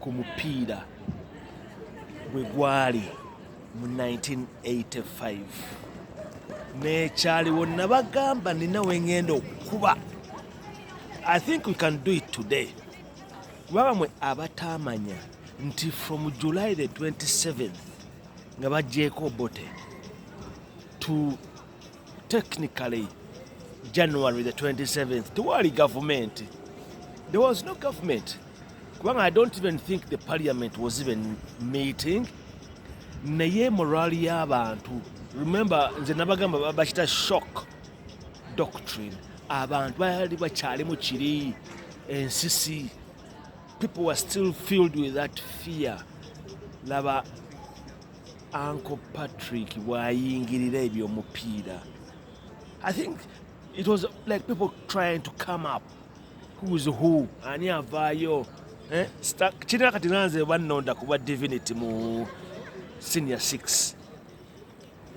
ku mupiira bwe gwali mu 1985 nekyaliwo nabagamba nina wengenda okukuba i think we can do it today kubanga mwe abataamanya nti from july the 27 nga bagyeko bote to technically january the 27th tewali gavumenti there was no government kubanga i don't even think the parliament was even meeting naye morali y'abantu remember nze nabagamba bakita shock doctrine abantu baali bakyalimu kiri ensisi people were still filled with that fear laba Uncle Patrick bwayingirira ebyomupiira I think it was like people trying to come up who's who ani avaayo eh? kirina kati nanze bannonda kuba divinity mu senior 6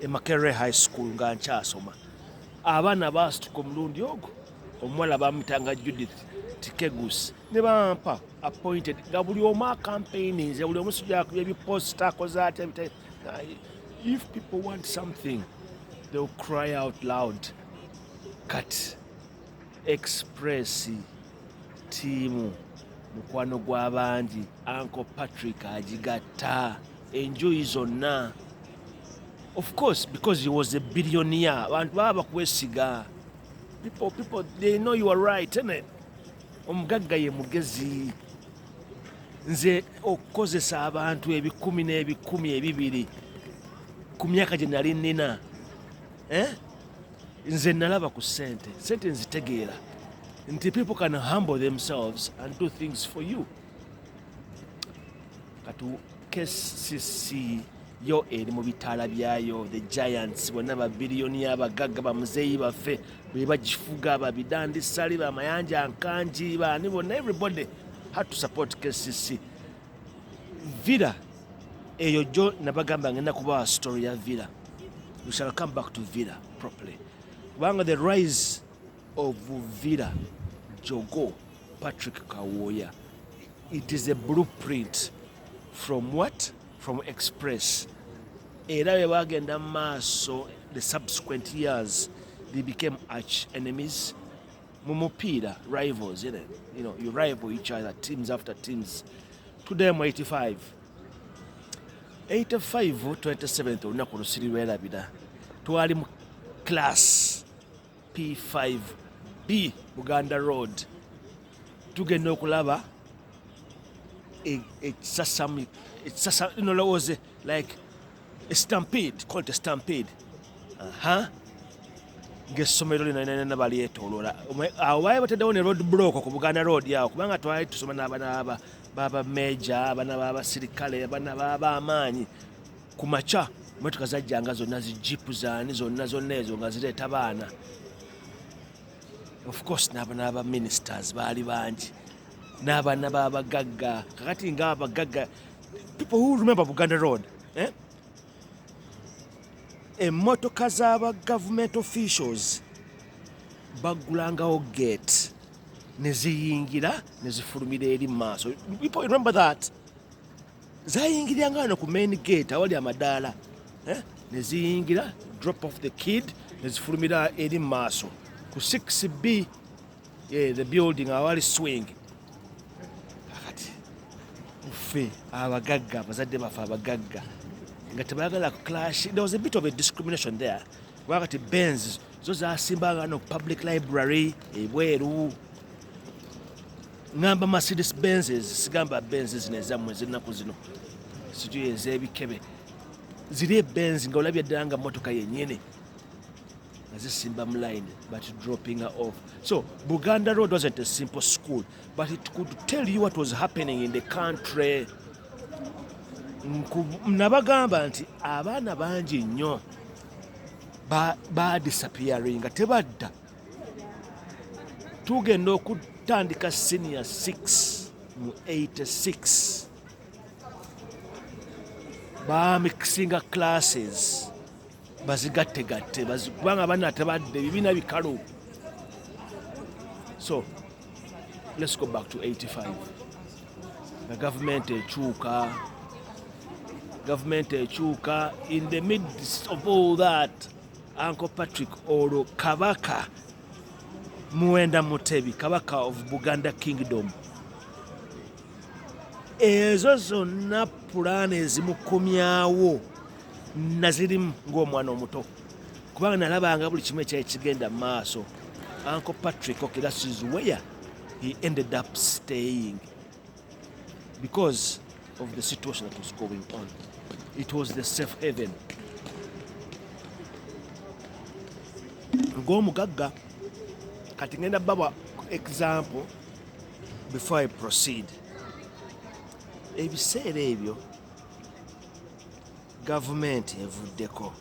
e Makerere High School nga nkyasoma abaana baasituka omulundi ogwo omuwala bamutanga Judith Tikegus ne bampa appointed nga buli omu acampaigninze buli omu sijakuba ebiposta akoze ate if people want something they will cry out loud kat express tiimu mukwano gw'abangi anko patrick agigatta enjuyi zonna of course because he was a billionaire abantu baba bakwesiga people people they know you are right isn't it omugagga ye mugezi nze okukozesa abantu ebikumi n'ebikumi ebibiri ku myaka gye nali nnina eh? nze nalaba ku sente sente nzitegeera nti people can humble themselves and do things for you katu kcc yo eri mu bitaala byayo the giants bonna babiliyoni abagagga bamuzeeyi baffe be bagifuga babidandisali bamayanja nkangi baani bonna everybody had to support kcc villa eyo jo nabagamba ngenda kubawa story ya villa we shall come back to villa properly kubanga the rise of villa jogo Patrick Kawooya it is a blueprint from what from express era bwe bagenda mu maaso the subsequent years they became arch enemies mu mupiira rivals you know, you know, you rival each other teams after teams today mu 85 85 27 olunaku lusiri lwerabira twali mu class P5B Buganda Road tugenda okulaba ekisasami ekisasami nolowooze like a stampede called a stampede aha uh -huh. ng'essomero lino nena balyetoolola awo baali bataddewo ne road block ku buganda road awo kubanga twali tusoma n'abana baba meja abana babasirikale abana babaamaanyi ku makya motoka zajjanga zonna zijipu zaani zonna zonna ezo nga zireeta baana ofcourse n'aba ministers baali bangi n'abaana b'abagagga kakati nga abagagga people who remember buganda road eh? emmotoka z'aba government officials baggulangawo gate neziyingira nezifulumira eri mu maaso people remember that zayingirira nga wano ku main gate awali amadaala eh? ne ziyingira drop off the kid ne zifulumira eri mu maaso ku 6b yeah, the building awali swing akati ffe abagagga abazadde baffe abagagga nga tebaagala ku clash there was a bit of a discrimination there kuba kati benz zo zasimbanga no public library ebweru ngamba Mercedes Benz sigamba Benz zino ezammwe ez'ennaku zino sijo ez'ebikebe ziri ebenz nga olabye ddala nga motoka yennyini nga zisimba mu line but dropping her off so buganda road wasn't a simple school but it could tell you what was happening in the country nabagamba nti abaana bangi nnyo badisappearing nga tebadda tugenda okutandika senior 6 mu 86 bamikisinga classes bazigattegatte kubanga abana tebadde bibiina bikalu so let's go back to 85 nga gavumenti ekyuka gavumenti ekyuka in the midst of all that Uncle Patrick olwo kabaka Muwenda Mutebi kabaka of Buganda Kingdom ezo zonna pulaani ezimukomyawo nazirimu ng'omwana omuto kubanga nalabanga buli kimu ekyali kigenda mu maaso Uncle Patrick Okirasizuweya he ended up staying because of the situation that was going on. It was the safe haven. ng'omugagga kati ngenda bawa example before i proceed ebiseera ebyo gavumenti evuddeko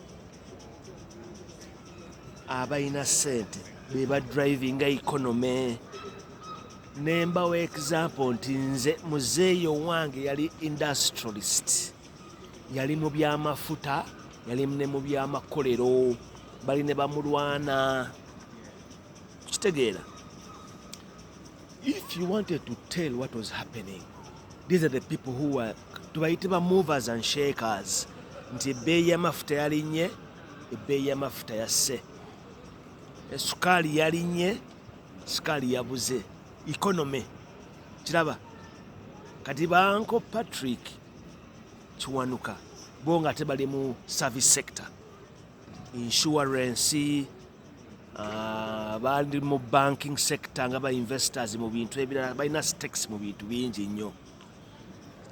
abalina sente beba drivinga economy nembawo example nti nze muzeeyi owange yali industrialist yali mu byamafuta yali ne mu byamakolero bali ne bamulwana kitegeera if you wanted to tell what was happening these are the people who were tubayite ba movers and shakers nti ebbeeyi yamafuta yalinye ebbeeyi yamafuta yasse esukaali yalinye sukaali yabuze economy kiraba kati banko patrick kiwanuka bo nga ate bali mu service sector insurance uh, bali mu banking sector nga ba investors mu bintu ebirala balina stakes mu bintu bingi nnyo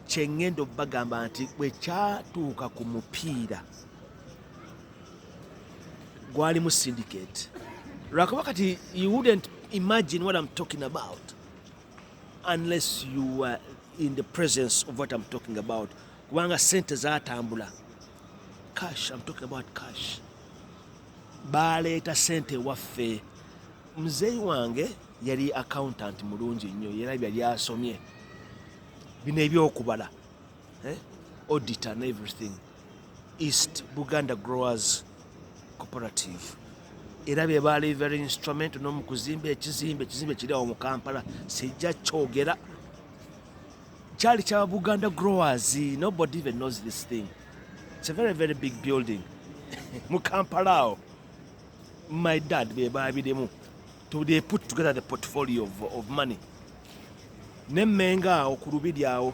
kyengenda obagamba nti bwekyatuuka ku mupiira gwalimu syndicate lwakuba kati you wouldn't imagine what I'm talking about unless you were in the presence of what I'm talking about kubanga sente zatambula cash I'm talking about cash baleeta sente waffe mzeyi wange yali accountant mulungi nnyo era byali asomye bino ebyokubala eh? audit and everything east buganda growers cooperative era be baali very instrument nomukuzimba ekizimbe ekizimbe kiri awo mu kampala sijja kyogera kyali kya buganda growers nobody even knows this thing it's a very very big building mu kampala awo my dad be baabirimu to they put together the portfolio of, of money ne mmenga awo ku lubiri awo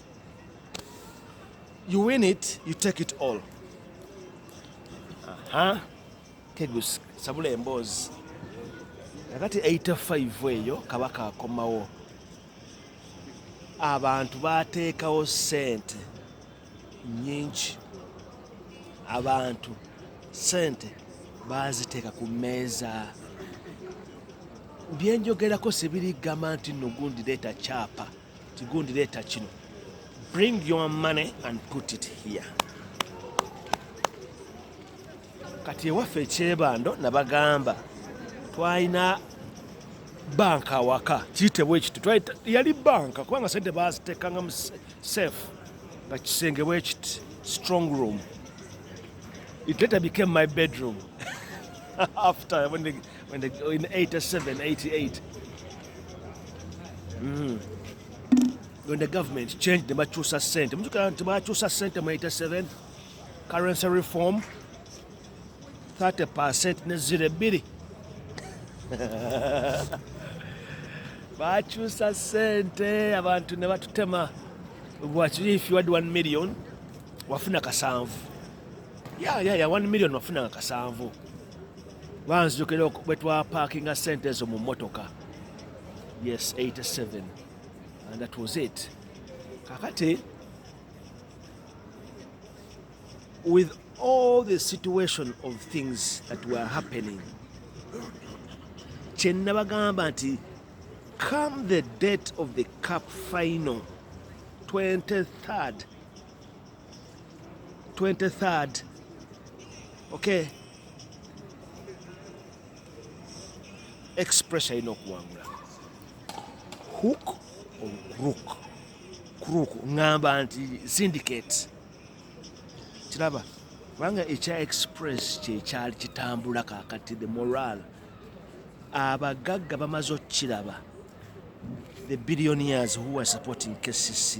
You win it, you take it all. Aha. Tegus sabula emboozi. Nakati 85 eyo kabaka akomawo. Abantu bateekawo sente nyingi. Abantu sente baaziteeka ku mmeeza. Byenjogerako sibiri gamba nti nno gundi leeta kyapa. Kigundi leeta kino. Bring your money and put it here. Kati ewaffe ekyebando nabagamba twalina banka awaka kiyitebwa ekiti yali banka kubanga sente bazitekanga mu safe nga kisenge bwekiti strong room it later became my bedroom after when the When they, in 87, 88, mm. when the government changed the Machusa cent, the Machusa cent in 87, currency reform, 30% nezira ebbiri bakyusa sente abantu ne batutema bwakiri if you had 1 million wafuna kasanvu ya ya ya 1 million wafunanga kasanvu banzijukira bwe twapakinga sente ezo mu mmotoka yes 87 and that was it kakati with all the situation of things that were happening kyenabagamba nti come the date of the cup final 23rd 23rd okay express alina okuwangula hook or crook crook ngamba nti syndicate kiraba kubanga ekya express kyekyali kitambula kakati the moral abagagga bamaze okukiraba the billionaires who are supporting kcc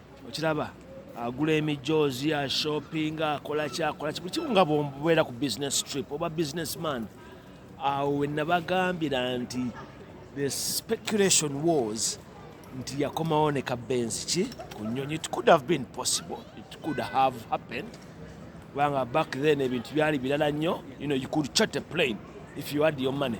okiraba agula emijoozi ashopinga akolaki akolaki buli kimu nga bwobeera ku business trip oba business man awo wenabagambira nti the speculation was nti yakomawo ne kabenzi ki ku nyonyi it could have been possible it could have happened kubanga back then ebintu byali birala nnyo you know you could chat a plane if you had your money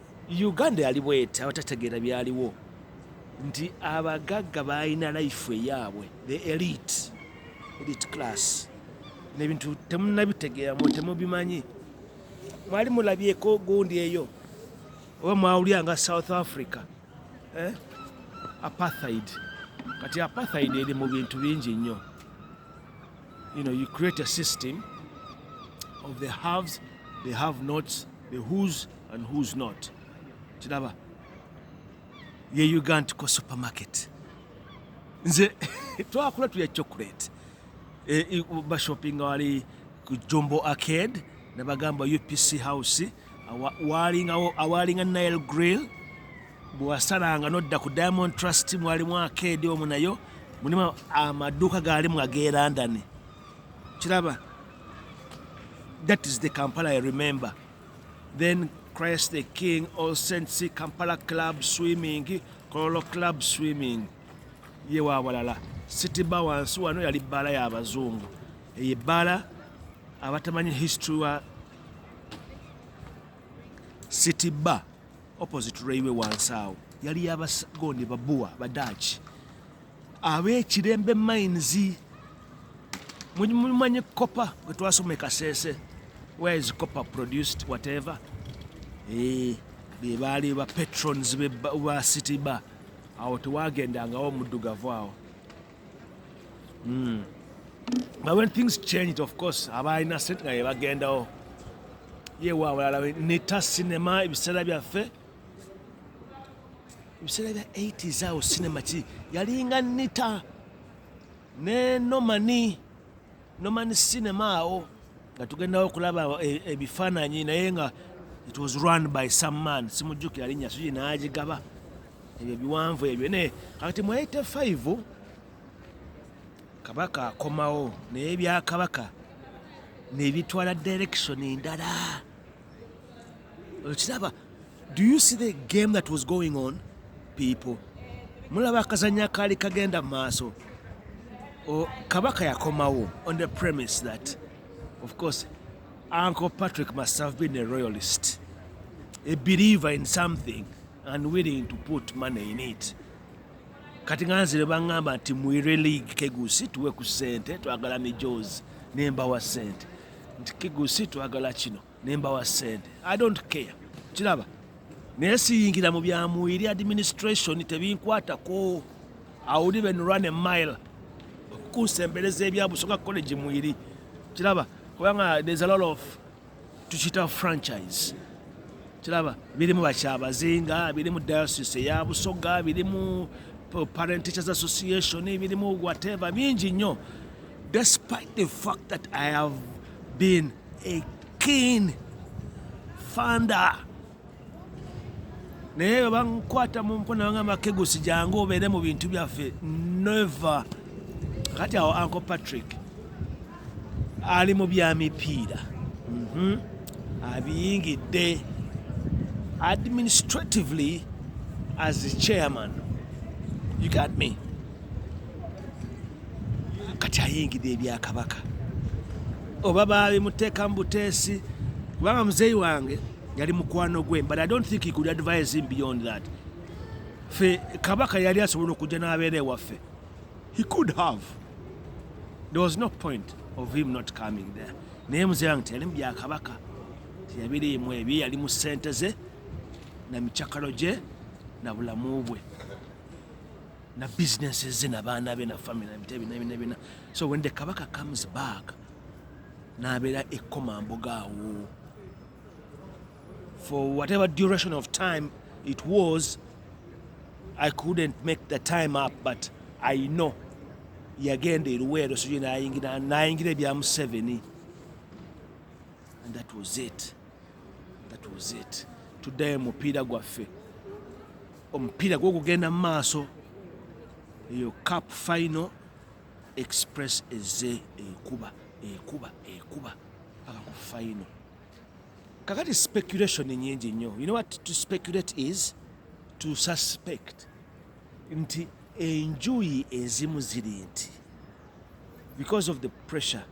uganda yali bweti abatategeera byaliwo nti abagagga balina life eyaabwe the elite elite class nebintu temunabitegeera mu temubimanyi mwali mulabyeko gundi eyo oba mwawulya nga south africa eh? apartheid kati apartheid eri mu bintu bingi nnyo you know you create a system of the haves the have nots the whose and who's not kiraba ye ugand ko supermarket nze twakula tulya chocolate e, bashoppinga wali ku jombo arcade nebagamba upc house awalinga nile grill bwewasalanga nodda ku diamond trust mwalimu arcade omu nayo mulimu amaduuka gaalimu agelandani kiraba that is the kampala i remember then Christ the King, All Saints, Kampala Club Swimming, Kololo Club Swimming, ye wawalala City Bar wansi wano yali bbaala y'abazungu eyo ebbaala abatamanyi history wa City Bar opposite railway wansi awo yali yabagondi babuwa badaki ab'ekirembe mines mumanyi copper bwe twasoma ekasese where is copper produced whatever eh, be baali ba patrons ba city bar awo tewagendangawo omuddugavu awo hmm. but when things changed of course abaalina sente nga yebagendawo yewa awalala nita cinema ebiseera byaffe ebiseera bya 8 zaawo sinema ki yalinga nita ne nomani nomani sinema awo nga tugendawo okulaba e, ebifaananyi naye nga it was run by some man simujjukira linnya sugi n'agigaba ebyo biwanvu ebyo naye kakati mu 85 kabaka akomawo naye byakabaka nebitwala direction ndala okiraba do you see the game that was going on people mulaba akazanya kaali kagenda mu maaso kabaka yakomawo on the premise that of course uncle patrick must have been a royalist a believer in something and willing to put money in it kati nga nzire baŋŋamba nti mwire league kegusi tuwe ku ssente twagala mijozi nembawa ssente nti kigusi twagala kino nembawa sente i don't care kiraba naye siyingira mu byamwiri administration tebinkwatako awuli ben run a mile okukunsembereza ebyabusoka college mwiri kiraba kubanga there's a lot of tukiyita franchise kiraba birimu bakyabazinga birimu diocese eya busoga birimu parent teachers association birimu whatever bingi nnyo despite the fact that i have been a keen funder naye bwe bankwata mu mpo nabangamba kegusi jangu obeere mu bintu byaffe never kati awo uncle patrick ali mu bya mipiira mhm. abiyingidde administratively as a chairman you got me kati ayingidde ebyakabaka oba babimuteeka mu buteesi kubanga muzeeyi wange yali mukwano gwe but i don't think he could advise him beyond that fe kabaka yali asobola okujja n'abeera ewaffe He could have. There was no point of him not coming there. Naye mzee wange teyali mubya kabaka. Teyabiriimu ebye yali mu sente ze na michakalo gye na bulamu bwe na businesses ze na baana be na family na bitebi na bina bina. So when the kabaka comes back n'abeera ekkomambuga awo for whatever duration of time it was i couldn't make the time up but i know yagenda eruweero sijui nayingira nayingira ebya museveni and that was it that was it tuddayo mupiira gwaffe omupiira gwokugenda mu maaso eyo cap final express eze ekuba ekuba ekuba paka ku final kakati speculation nyingi nnyo you know what to speculate is to suspect nti enjuyi ezimu ziri nti because of the pressure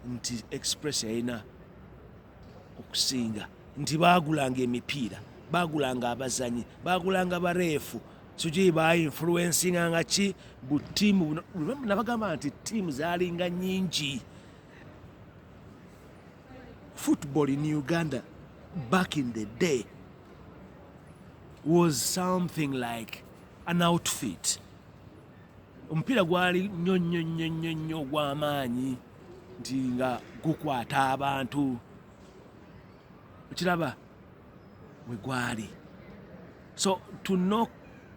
nti express yalina okusinga nti baagulanga emipiira baagulanga abazanyi baagulanga bareefu sijui bainfluensinga nga ki butiimu nabagamba nti tiimu zaalinga nyingi football in Uganda back in the day was something like an outfit. Omupiira gwali nnyo nnyo nnyo nnyo nnyo ogw'amaanyi nti nga gukwata abantu okiraba we gwali so to knock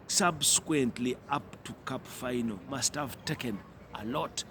subsequently up to cup final must have taken a lot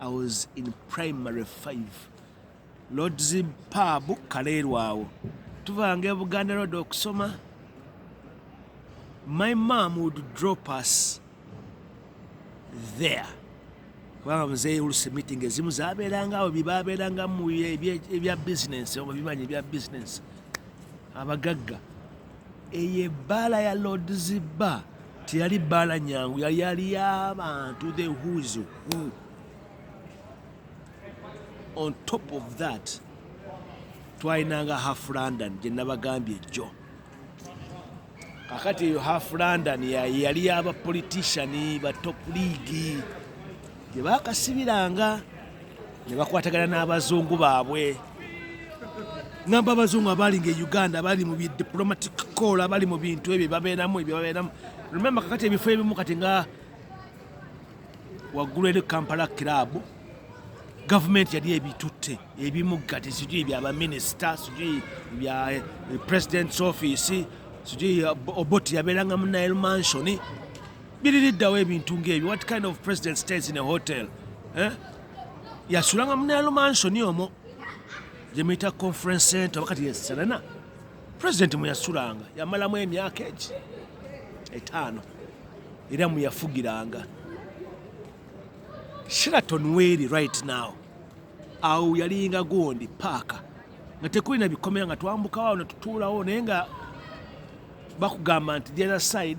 I was in primary 5 Lord's Pub Kaleerwawo tuvanga Buganda Road okusoma my mom would drop us there kubanga muzeeyi olusi meeting ezimu zabeeranga awo byebabeeranga mu ebya bizinensi oba bimanyi ebya bizinensi abagagga eyo ebbaala ya lords bar teyali bbaala nyangu yali yali yabantu the whos who on top of that twalinanga half london gye nabagambye jjo kakati eyo half london yali yaba politician ba top league gye baakasibiranga ne bakwatagana n'abazungu baabwe ngamba abazungu abaali nga e uganda abali mu diplomatic call abali mu bintu ebyo babeeramu ebyo babeeramu lumemba kakati ebifo ebimu kati nga waggulu eri kampala kiraabu gavumenti yali ebitutte ebimu kati sijui bya baminisita sijui bya eh, president's office sijui eh, oboti yabeeranga mu nile mansioni biririddawo ebintu ng'ebyo what kind of president stays in a hotel eh? yasulanga munalo mansoni omo gyemuyita conference center oba kati yeserena president mweyasulanga yamalamu emyaka egi etaano era mweyafugiranga sheraton weeri right now awo yalinga gondi paaka nga tekulina bikomera nga twambukawo awo netutuulawo naye nga bakugamba nti the other side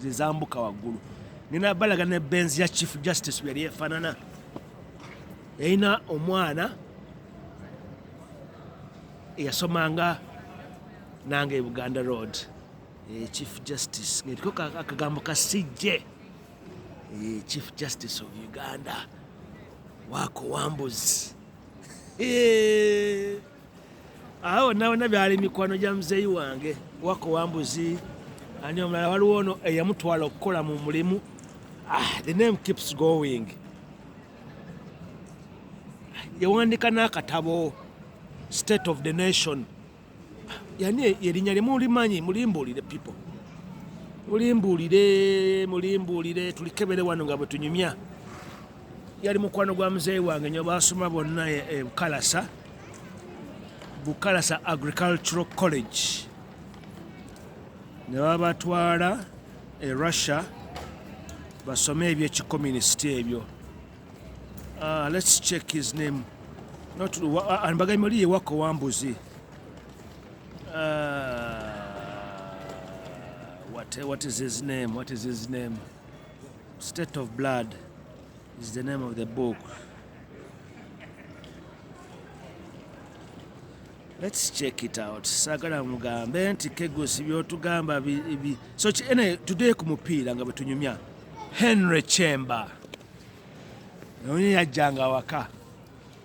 zezambuka waggulu nina balaga ne benzi ya chief justice yali efanana yalina omwana eyasomanga nange e buganda road e chief justice ngetiko akagambo ka cj e chief justice of uganda wako wambuzi awo nawona byali mikwano gya muzeeyi wange wako wambuzi ani omulala waliwo ono eyamutwala okukola mu mulimu ah, the name keeps going yawandika n'akatabo state of the nation yani yerinya limu ulimanyi mulimbulire people mulimbulire mulimbulire tulikebere wano nga bwetunyumya yali mukwano gwa muzeeyi wange nyo baasoma bonna e, e bukalasa bukalasa agricultural college ne babatwala e russia basome ebyekikomunisiti ebyo ah, lets check his name anbaga muli yewako wambuzi ah, what, what is his name what is his name State of blood is the name of the book. Let's check it out. Sagala mugambe nti kegosi byotugamba bi, bi. So ene today ku mupiira nga betunyumya Henry Chemba. Naye yajjanga waka.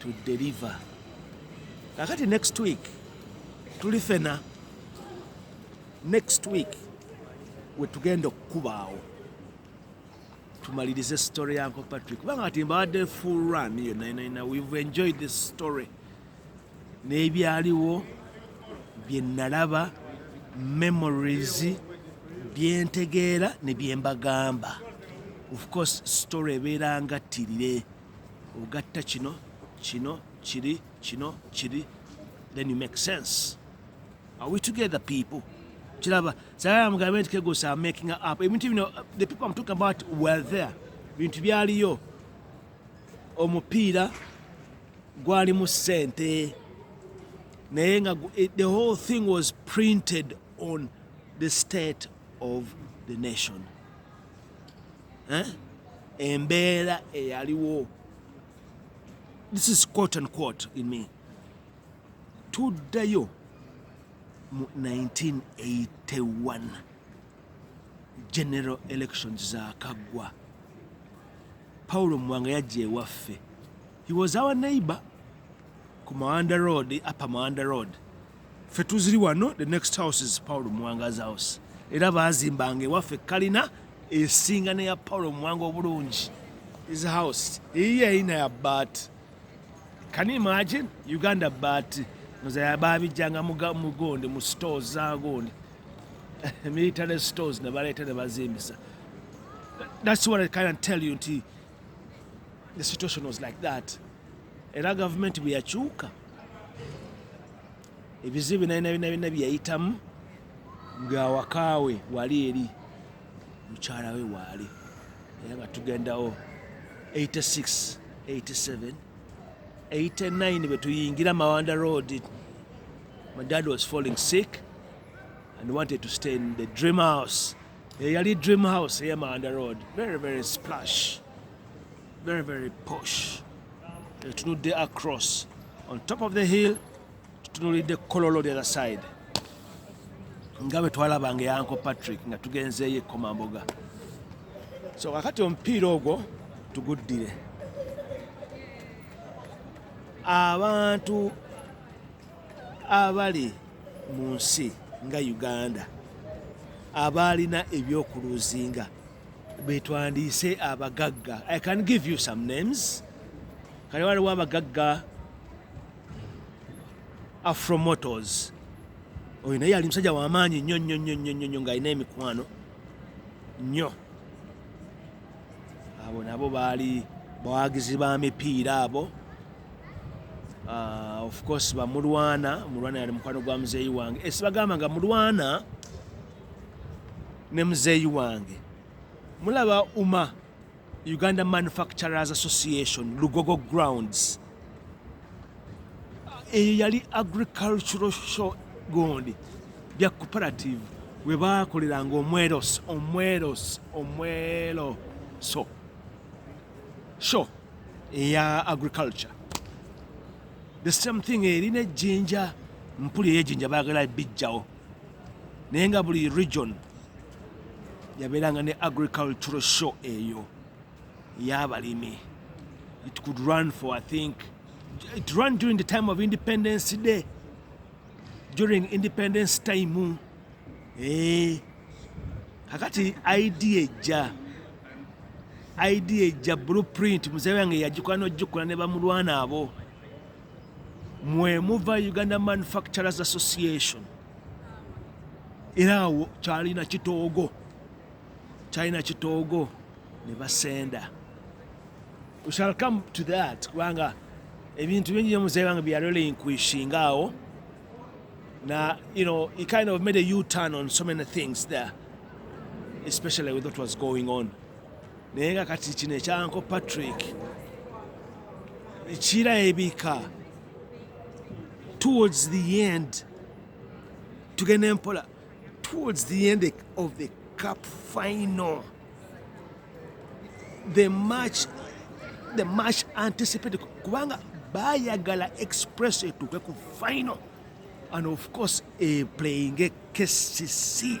to deliver kakati next week tuli fena next week wetugenda okukubaawo tumalirize story yanko patrick kubanga kati mbadde full run iyo nainaina we've enjoyed this story n'ebyaliwo bye nalaba memories byentegeera ne byembagamba of course story ebeera nga ttirire ogatta kino kino kiri kino kiri then you make sense are we together people kiraba sayaa mugambe nti kegosa making up ebintu bino the people am talking about were there bintu byaliyo omupiira gwalimu sente naye nga eh, the whole thing was printed on the state of the nation eh? embeera eyaliwo this is quote and quote in me tuddayo mu 1981 general elections zakaggwa paulo mwanga yajja ewaffe he was our neighbor ku mawanda road apa mawanda road ffe tuziri wano the next house is paul muwanga's house era bazimbanga ewaffe kalina esinga neya paul muwanga obulungi is house eyiyo eyina ya baati can you imagine uganda baati nozaya babijjanga mugonde mu stores zagonde military stores nebaleeta nebazimbisa that's what i can tell you nti the situation was like that era gavumenti bwe yakyuka ebizibu binalina bina bina byeyayitamu ng'awakaawe wali eri mukyala we waali era nga tugendawo 86 87 89 bwe tuyingira mawanda road my dad was falling sick and wanted to stay in the dream house eyali eh, dream house eya manda road very very splash very very posh etunudde eh, across on top of the hill tutunulidde kololo the other side nga bwe twalabanga eyanko patrick nga tugenzeeyo ekkomamboga so kakati omupiira ogwo tuguddire abantu abali mu nsi nga uganda abaalina ebyokuluzinga betwandiise abagagga i can give you some names kale waliwo abagagga afromotos oyo naye yali musajja wamaanyi nnyo nnyo nnyo nnyo nnyo nnyo ng'alina emikwano nnyo abo nabo baali bawagizi ba mipiira abo uh, of course bamulwana mulwana yali mukwano gwa muzeeyi wange esibagamba eh, nga mulwana ne muzeeyi wange mulaba uma Uganda Manufacturers Association Lugogo Grounds eyo yali agricultural show gondi bya cooperative we baakoleranga omweros omweros omwero so show eya agriculture the same thing eri nejjinja mpuli eyejjinja baagala bijjawo naye nga buli region yabeeranga ne agricultural show eyo yabalimi it could run for i think it run during the time of independence day during independence time eh, kakati idea ejja idea ejja blueprint muzee wange yagikola nojikola ne bamulwana abo mwemuva uganda manufacturers association era awo kyalina kitoogo kyalina kitoogo ne basenda we shall come to that kubanga ebintu bingi nyo muzeeyi wange byarolinkuishinga awo na you know he kind of made a u-turn on so many things there especially with what was going on naye nga kati kino ekyanko patrick kirabika towards the end tugenda empola towards the end of the cup final the match the match anticipated kubanga bayagala express etuuke ku final and of course e playing a kcc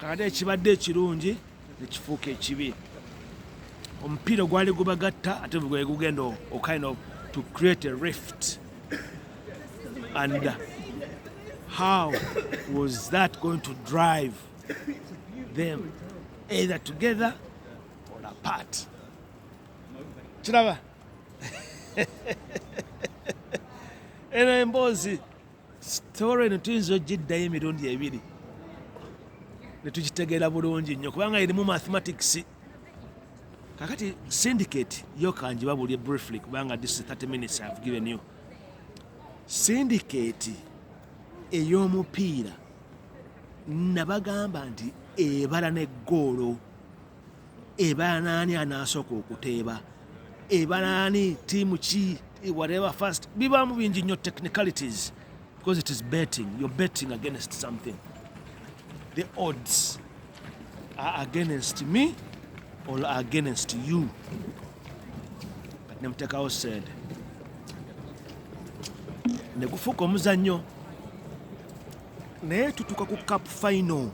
kakati ekibadde ekirungi nekifuuka ekibi omupiira ogwali gubagatta ate gwali gugenda okind of to create a rift and how was that going to drive them either together or apart kiraba eno emboozi sitore eno tuyinza ogiddayo emirundi ebiri netukitegeera bulungi nnyo kubanga erimu mathematics kakati syndicate yokanjiba buli briefly kubanga this 30 minutes have given you syndicate ey'omupiira nabagamba nti ebala ne goolo ebanaani anaasooka okuteeba ebanaani tiimu ki whatever first bibaamu bingi nnyo technicalities because it is betting you're betting against something the odds are against me or against you nemutekawo sente negufuuka omuzannyo naye tutuka ku cup final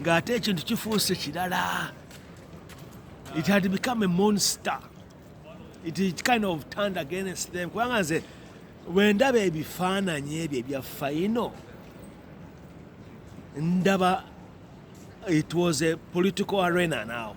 ng'ate ekintu kifuuse kirala it had become a monster it, it kind of turned against them kubanga nze wendaba ebifaananyi ebyo ebya faino ndaba it was a political arena now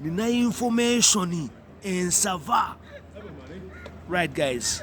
nina information ensava right guys